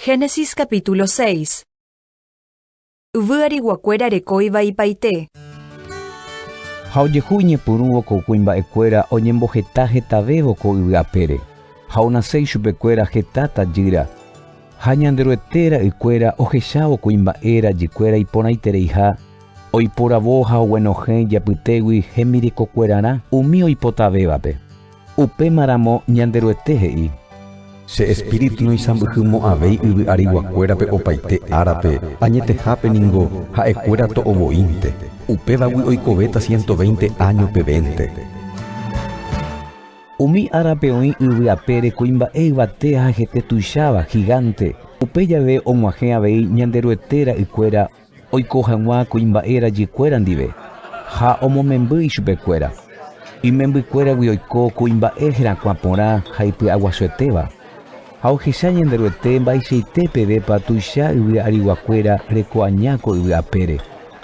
Génesis capítulo 6 Yvy ariguakuéra rekóiva ipaite. Ha ojehu iñepyrũvo ko kuimba'ekuéra oñemboheta hetavévo ko yvy apére, ha onase ichupekuéra heta tajýra. Ha Ñanderuete ra'ykuéra ohechávo kuimba'e rajykuéra iporãitereiha, oiporavo ha oguenohẽ ijapytégui hembirekokuerarã umi oipotavévape. Upémaramo Ñanderuete he'i, Che espíritu noisãmbyhymo'ãvéi yvy ariguakuérape opaite árape, añetehápe ningo ha'ekuéra to'o voínte, upévagui oikovéta siénto véinte áño pevénte. Umi árape oĩ yvy apére kuimba'e yvate ha hete tuicháva, gigánte, upe jave og̃uahẽ avei Ñanderuete ra'ykuéra, Oiko hag̃ua kuimba'e rajykuéra ndive ha omomemby ichupekuéra. Imembykuéragui oiko kuimba'e herakuã porã ha ipy'aguasuetéva. Ha ohecha Ñanderuete mba'eichaite pevépa tuicha yvy ariguakuéra reko aña ko yvy apére,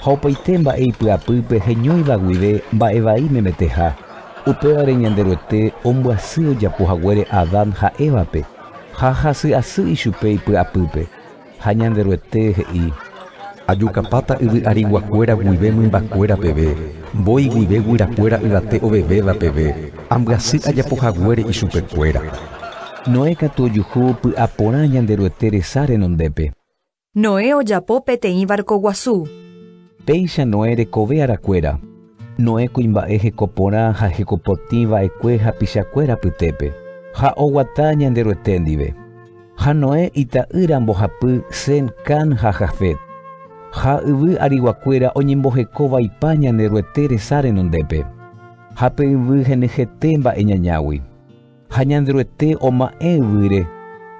ha opaite mba'e ipy'apýpe heñóiva guive mba'e vai memeteha. Upévare Ñanderuete ombyasy ojapo haguére Adán ha Évape, ha hasy asy ichupe ipy'apýpe. Ha Ñanderuete he'i, Ajukapáta yvy ariguakuéra guive mymbakuéra peve, mbói guive guyrakuéra yvate ovevéva peve, ambyasy ajapo haguére ichupekuéra. Noé katu ojuhu py'a porã Ñanderuete resa renondépe. Noé ojapo peteĩ varko guasu. Péicha Noé rekove arakuéra. Noé kuimba'e heko porã ha heko potĩ va'ekue hapichakuéra apytépe, ha oguata Ñanderuete ndive. Ha Noé ita'ýra mbohapy Sem, Cam ha Jafet. Ha yvy ariguakuéra oñemboheko vaipa Ñanderuete resa renondépe, ha pe yvy henyhete mba'e ñañágui. Ha Ñanderuete oma'ẽ yvýre,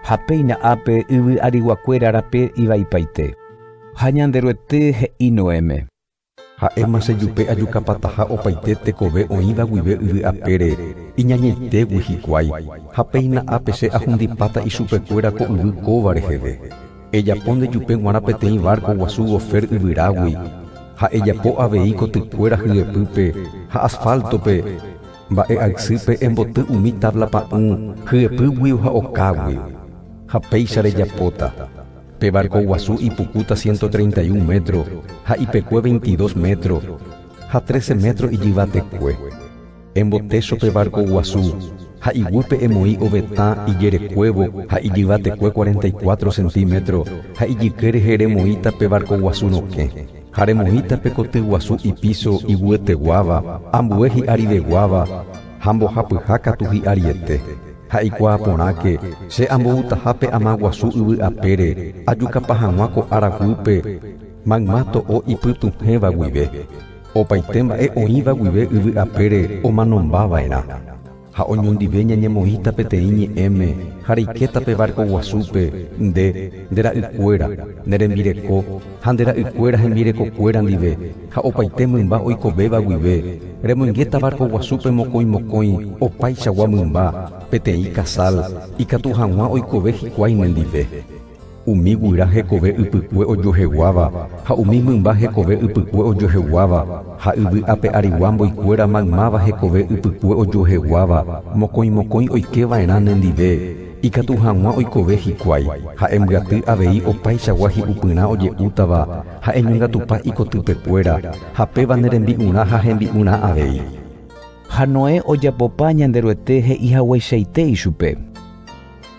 ha péina ápe yvy ariguakuéra rape ivaipaite. Ha Ñanderuete he'i Noéme. Ha'éma che jupe ajukapataha opaite tekove oĩva guive yvy apére, iñañaitégui hikuái, ha péina ápe che ahundipáta ichupekuéra ko yvy kóva reheve. Ejapo nde jupe g̃uarã peteĩ várko guasu gofer yvyrágui, ha ejapo avei kotykuéra hyepýpe ha asfáltope, Mba'e aysýpe emboty umi távla pa'ũ hyepýgui ha okágui. Ha péicha rejapóta, Pe várko guasu ipukúta ciento treinta y un métro ha ipekue veintidós métro, ha trece métro ijyvatekue. Embotécho pe várko guasu ha iguýpe emoĩ ovetã ijerekuévo ha ijyvatekue cuarenta y cuatro centímetro ha ijyke rehe remoĩta pe várko guasu rokẽ. Ha remoĩta pe koty guasu ipíso iguyeteguáva ambue hi'ariveguáva ha mbohapyha katu hi'ariete, ha ikuaa porãke che amboutaha pe ama guasu yvy apére ajukapa hag̃ua ko ára guýpe mayma to'o ipytuhẽva guive, opaite mba'e oĩva guive yvy apére omanombava'erã. Ha oñondive ñañemoĩta peteĩ ñe'ẽme ha reikéta pe várko guasúpe, nde, nde ra'ykuéra, ne rembireko ha nde ra'ykuéra hembirekokuéra ndive ha opaite mymba oikovéva guive, remoingéta várko guasúpe mokõi mokõi opaichagua mymba, peteĩ kasal, ikatu hag̃ua oikove hikuái nendive. Umi guyra hekove ypykue ojoheguáva ha umi mymba hekove ypykue ojoheguáva, ha yvy ape arigua mboykuéra maymáva hekove ypykue ojoheguáva, mokõi mokõi oike va'erã ne ndive, ikatu hag̃ua oikove hikuái, ha embyaty avei opaichagua hi'upyrã oje'útava, ha eñongatupa ikotypekuéra, ha péva ne rembi'urã ha hembi'urã avei. Ha Noé ojapopa Ñanderuete he'i hagueichaite ichupe.